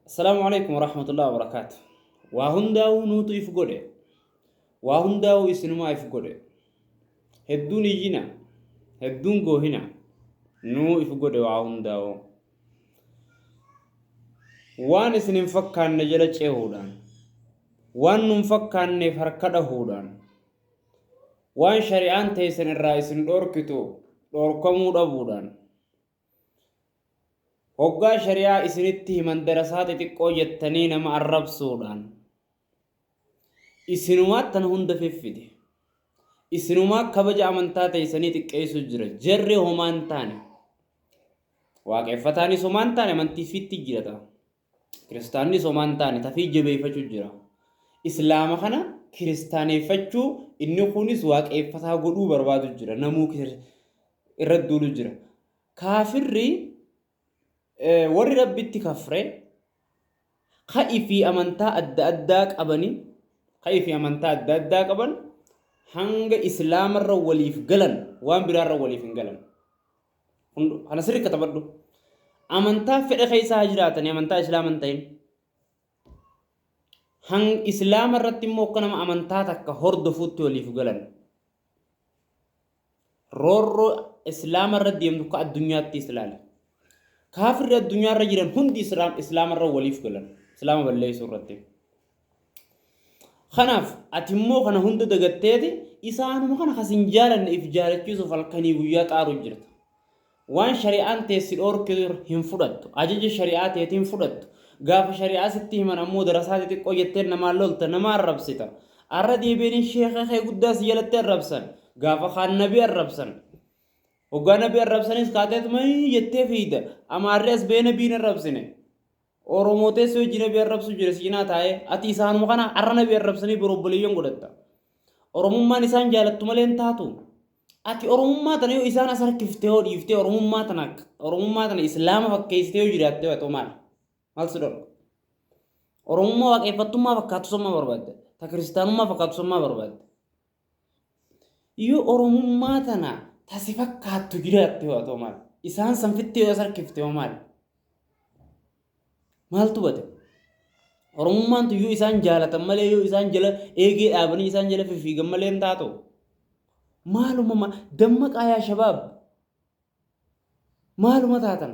Assalaamu alaikum warahmatullahi wabarakaatu. Waa hundaa'uu nuutu if godhe. Waa hundaa'uu isinumaa if godhe. Hedduun iyyina. Hedduun goohina. Nuu if godhe waa hundaa'uu. Waan isin hin fakkaanne jala cehuudhaan. Waan nun fakkaanneef harka dhahuudhaan. Waan shari'aan teessan irraa isin dhoorkitu dhoorkamuu dhabuudhaan. Hoggaa shari'aa isinitti himan darasaa xixiqqoo jettanii nama arrabsuudhaan isinumaa tan hunda fiffide isinumaa kabaja amantaa teeysanii xiqqeeysu jira jarri homaan taane waaqeffataan isumaan taane amantii fitti jirata Kiristaannis homaa hin taane tafii jabeeffachuu jira. Islaama kana kiristaaneeffachuu inni kunis waaqeeffataa godhuu barbaadu jira. Namuu kir- irra duulu jira. Kaafirri eh, warri rabbitti kafre ka'i fi amantaa adda addaa qabani ka'i fi amantaa adda addaa qaban hanga islaamarra waliif galan waan biraarra waliif hin galan. Hundo, kana sirri katabadhu. Amantaa fedha keessa haa jiraatani amantaa islaama hin ta'in. Hang islaama irratti immoo akka nama amantaa takka hordofuutti waliif galan. Roorroo islaama irra deemtu akka addunyaattis ilaali. Kaafirri addunyaa irra jiran hundi islaama irra waliif galan. Islaama balleessuu irratti. Kanaaf ati immoo kana hunda dagatteeti isaanuma kana kan sin jaalanne if jaalachiisuuf halkanii guyyaa xaaru jirta. Waan shari'aan tee si dhoorke hin fudhattu. Ajaja shari'aa teetii hin fudhattu. Gaafa shari'aa sitti himan ammoo darasaa xixiqqoo jettee namaan lolta nama arrabsita. Arra deebi'anii sheeka kee guddaa si jalatti arrabsan. Gaafa kaan nabi arrabsan. Hoggaa nabi arrabsanis kaateetuma jettee fiida. Amaarri as ba'ee nabiin arrabsine. Oromoo teessoo ijji nabi arrabsuu jira si cinaa taa'ee ati isaanuma kana arra nabi arrabsanii bor obboleeyyan godhatta. Oromummaan isaan jaalattu malee hin taatu. Ati Oromummaa tana yoo isaan as harkiftee yoo dhiiftee Oromummaa tana Oromummaa tana Islaama fakkeessitee yoo jiraattee haa ta'u maal? Maal si dhorka? Oromummaa waaqeffattummaa fakkaatu sammaa barbaadda. Ta kiristaanummaa fakkaatu sammaa barbaadda. Yoo Oromummaa tana ta si fakkaattu jiraatte hoo atoo maal? Isaan san fittee yoo as harkifte hoo maal? Maaltu bade? Oromummaan tun yoo isaan jaalatan malee yoo isaan jala eegee dhaabanii isaan jala fifiigan malee hin taatu. Maaluma ma- dammaqaa yaa shabaab. Maaluma taatan?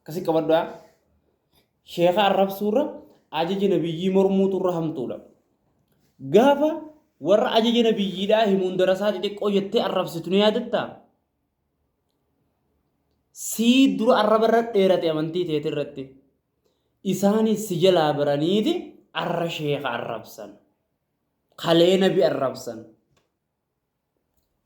akkasi qabadhaa sheeka arrabsuurra ajaja nabiyyii mormuutu irra hamtuudha gaafa warra ajaja nabiyyiidhaa himuun darasaa xixiqqoo jettee arrabsitu ni yaadatta sii dura arraba irra dheerate amantii teete irratti isaanis si jalaa baraniiti arra sheeka arrabsan kalee nabi arrabsan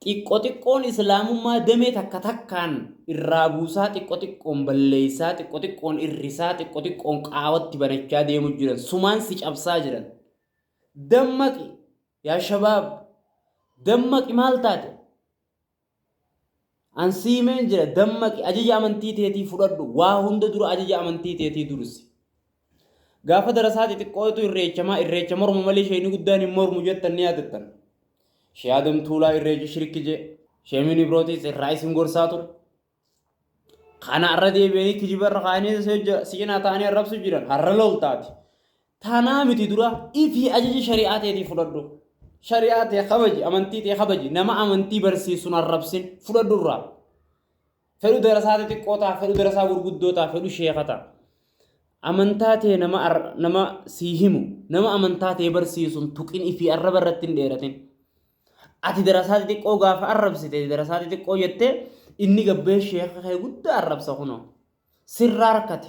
Xiqqo xiqqoon Islaamummaa damee takka takkaan irraa buusaa, xiqqo xiqqoon balleessaa, xiqqo xiqqoon irrisaa, xiqqo xiqqoon qaawatti banachaa deemu jiran. Sumaan si cabsaa jiran. Dammaqi! Yaa shabaab! Dammaqi maal taate? An siimeen jira, dammaqi, ajaja amantii teetii fudhadhu, waa hunda dura ajaja amantii teetii dursi. Gaafa darasaa xixiqqootu irreechamaa, irreecha morma malee sheeyni guddaan hin mormu jettan ni yaadattan. Shee Adam Tuulaa irreechi shirki jee, Shee Minibirootis irraa isin gorsaa ture. Kana irra deebi'anii kijiba irra kaa'anii si cinaa ta'anii arrabsu jiran har'a loltaati. Tanaa miti dura ifii ajaja shari'aa teetii fudhadhu. Shari'aa tee kabaji, amantii tee kabaji, nama amantii barsiisu hin arrabsin, fudhadhu irraa. Fedhu darasaa xixiqqoo ta'a, fedhu darasaa gurguddoo ta'a, fedhu sheeka ta'a. Amantaa tee nama, ar- nama sii himu, nama amantaa tee barsiisu hin tuqin ifii arraba irratti hin dheeratin. Ati darasaa xixiqqoo gaafa arrabsite, darasaa xixiqqoo jettee inni gabbee sheeka kee guddaa arrabsa kunoo. Sirraa harkate.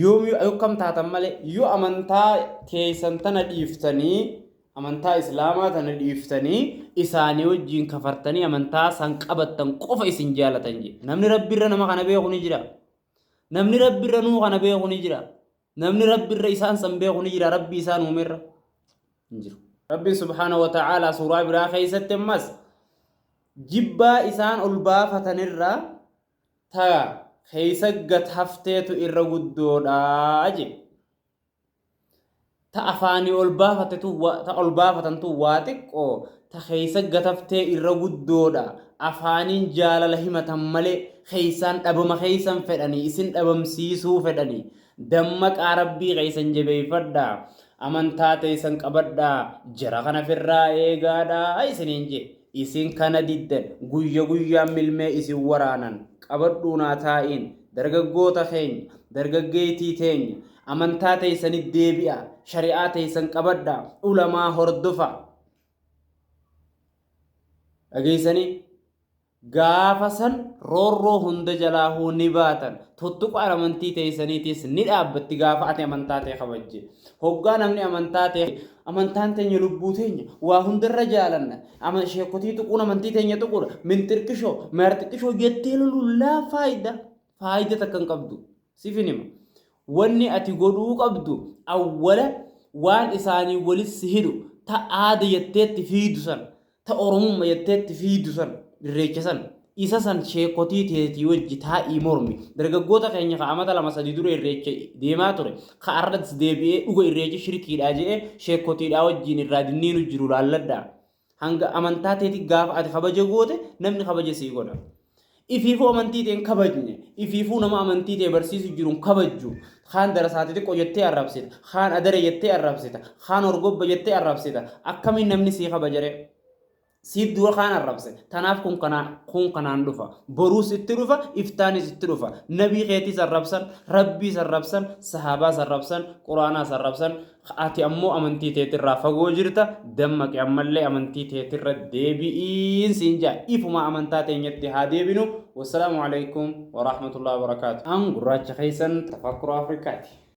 yoomiyuu akkam taatan malee yoo amantaa teeysan tana dhiiftanii amantaa islaamaa tana dhiiftanii isaanii wajjiin kafartanii amantaa san qabattan qofa isin jaalatan jee namni rabbiirra nama kana beeku ni jira namni rabbiirra nuu kana beeku ni jira namni rabbiirra isaan san beeku ni jira rabbi isaan uumerra hin jiru rabbiin subhaana wa ta'aalaa suuraa biraa keessatti ammas jibbaa isaan ol baafatanirraa ta keessa gad hafteetu irra guddoodha je. Ta afaanii ol baafatetu wa- ta ol baafatantu waa xiqqoo ta keessa gad haftee irra guddoodha. Afaaniin jaalala himatan malee keessaan dhabama keessan fedhanii isin dhabamsiisuu fedhanii. Dammaqaa Rabbii keessan jabeeffadhaa. Amantaa teeysan qabadhaa, jara kana firraa eegaadhaa isiniin je'e. Isin kana diddan, guyya guyyaan milmee isin waraanan. Qabadhuu naa taa'iin, dargaggoota keenya, dargaggeeytii teenya, amantaa teeysanitti deebi'aa, shari'aa teeysan qabadhaa, ulamaa hordofaa. Dhageeysanii? Gaafa san roorroo hunda jalaahuu ni baatan, tuttuqaan amantii teeysaniitiis ni dhaabbatti gaafa ati amantaa tee kabajje. Hoggaa namni amantaa tee, Amantaan teenya lubbuu teenya, waa hundarra jaalanna, ama, sheekkotii tuquun amantii teenya tuquudha, minxirqishoo, maarxixishoo jettee loluun laa faayda. faayida takka hin qabdu sifin hima wanni ati godhuu qabdu awwala waan isaanii walis si hidhu ta aada jetteetti fiidu san ta oromumma jetteetti fiidu san irreecha san isa san sheekotii teetii wajji taa'ii mormi dargaggoota keenya ka amata lama sadii dura irreecha deemaa ture ka arras deebi'ee dhuga irreechi shirkiidhaa je'ee sheekotiidhaa wajjiin irraa dinniinu jiru laalladhaa Hanga amantaa teeti gaafa ati kabaja goote namni kabaja sii godha. Ifiifuu amantii tee hin kabajne, ifiifuu nama amantii tee barsiisu jiru hin kabajju. Kaan darasaati xiqqo jettee arrabsita, kaan adare jettee arrabsita, kaan horgobba jettee arrabsita. Akkamiin namni sii kabajare? Siif dura kaan arrabse. Tanaaf kun kanaa kun kanaan dhufa. Boruus itti dhufa, iftaanis itti dhufa. Nabii keetiis arrabsan, Rabbiis arrabsan, sahaabaas arrabsan, Quraanaas arrabsan. Ati ammoo amantii teetirraa fagoo jirta, dammaqi ammallee amantii teetirra deebi'iin siin ja'a. Ifumaa amantaa teenyatti haa deebinu. Wassalaamu alaikum warahmatullahi wabarakaatu. An gurraacha keessan Tafakkura Afrikaati.